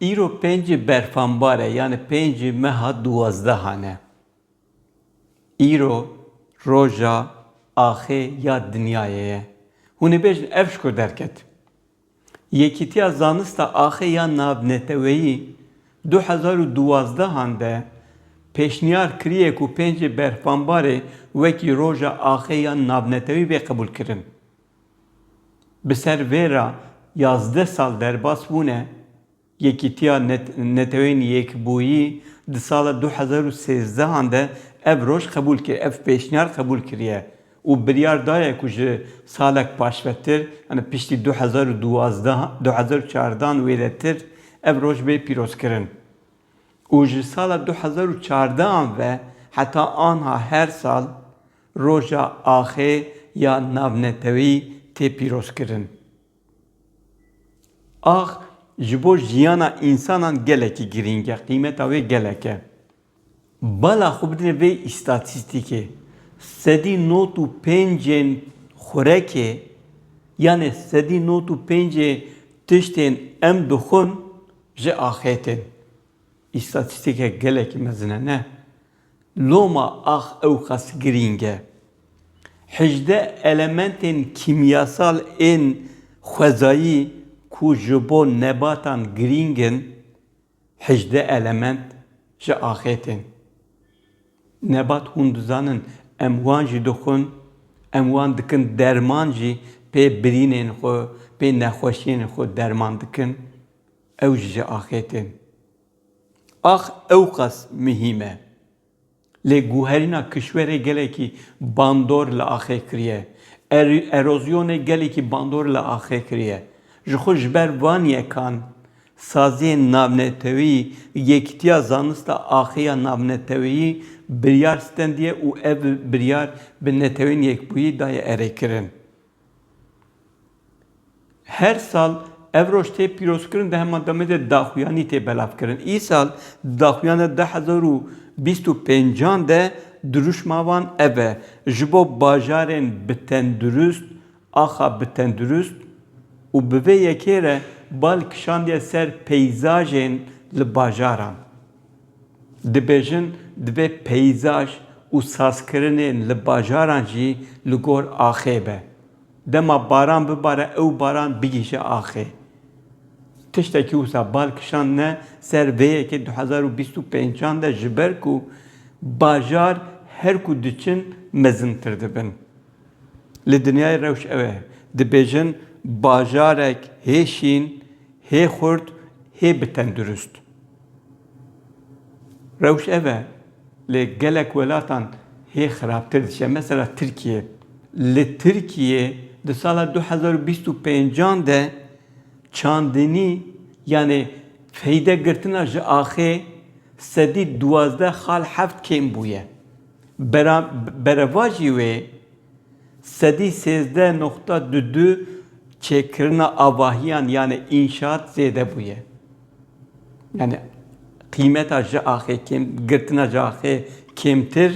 Îro pêncî berfanbar e yanî pêncî meha duwazdehan e. Îro roja axê ya dinyayê ye. Hûn ê bêjin ev ji ku derket. Yekîtiya Zanista Axê ya Navneteweyî du hezar û duwazdehan de pêşniyar kiriye ku pêncî berfanbarê wekî roja axê ya navneteweyî bê qebûlkirin. Bi ser vê re yazdeh sal derbas bûne, Yekîtiya Neteweyên Yekbûyî di sala du hezar û sêzdeh an de ev roj qebûl kir, ev pêşniyar qebûl kiriye û biryar daye ku ji salek paşvetir, yanî piştî du hezar û duwazdeh an, du hezar û çardeh an wêretir ev roj bê pîrozkirin û ji sala du hezar û çardeh an ve heta anha her sal Roja Axê ya Navnetewî tê pîrozkirin. Ax ji bo jiyana însanan gelekî girîng e, qîmeta wê gelek e. Bala xwe bidin vê îstatîstîkê, Sedî nod û pênc ên xurekê yanê sedî nod û pênc ê tiştên em dixwin ji axê tên. Îstatîstîkek gelekî mezin e ne? Loma ax ewqas girîng e. Hejdeh elementên kîmyasal ên xwezayî ku ji bo nebatan girîng in, hejdeh element ji axê tên. Nebat hûn dizanin em wan jî dixwin, em wan dikin derman jî pê birînên xwe, pê nexweşiyên xwe derman dikin, ew jî ji axê tên. Ax ewqas mihîm e. Lê guherîna kişwerê gelekî bandor li axê kiriye. Erozyonê gelekî bandor li axê kiriye. Ji xwe ji ber van yekan saziyên navnetewî Yekîtiya Zanista Axiya Navneteweyî biryar stendiye û ev biryar bi Netewên Yekbûyî daye erêkirin. Her sal ev roj tê pîrozkirin di heman demê de daxuyanî tê belavkirin. Îsal di daxuyana du hezar û bîst û pênc an de dirûşma wan ev e, Ji bo bajarên bi tendurist, axa bi tendurist û bi vê yekê re bal kişandiye ser peyzajên li bajaran. Dibêjin divê peyzaj û sazkirinên li bajaran jî li gor axê be. Dema baran bibare ew baran bigihîje axê. Tiştekî wisa bal kişandine ser vê yekê du hezar û bîst û pênc an de ji ber ku bajar her ku diçin mezintir dibin. Li dinyayê rewş ew e. Dibêjin bajarek hê şîn, hê xurt, hê bi tendurist. Rewş ev e, lê gelek welatan hê xirabtir diçe. Mesela Tirkiye. Li Tirkiyê di sala du hezar û bîst û pênc an de çandinî yanê feyde girtina ji axê sedî duwazdeh xal heft kêm bûye. Bera berevajî wê sedî sêzdeh noqta du du çêkirina avahiyan yanê înşaat zêde bûye. Yani qîmeta ji axê kêm girtina ji axê kêmtir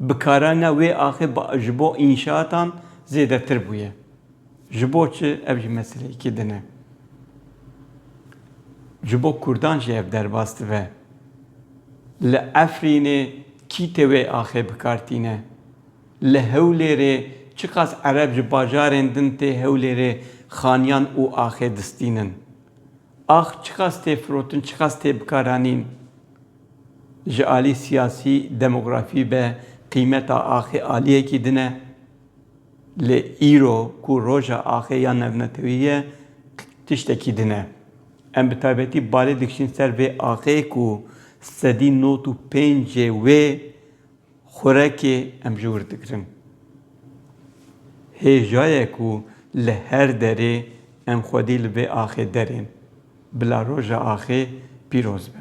bikarana wê axê ji bo înşaatan zêdetir bûye. Ji bo çi? Ev jî meseleyekî din e. Ji bo Kurdan jî ev derbas dibe. Li Efrînê kî tê wê axê bikar tîne? Li Hewlêrê çiqas Ereb ji bajarên din tê Hewlêrê xaniyan û axê distînin? Ax çiqas tê firotin, çiqas tê bikaranîn. Ji alî siyasî, demografî ve qîmeta axê aliyekî din e. Lê îro ku roja axê ya navnetewî ye tiştekî din e. Em bi taybetî balê dikişîn ser vê axê ku sedî not û pêncê wê Xurekê em ji wir digirin. Hêjaye ku li her derê em xwedî li vê axê derên. Bila roja axê pîroz be.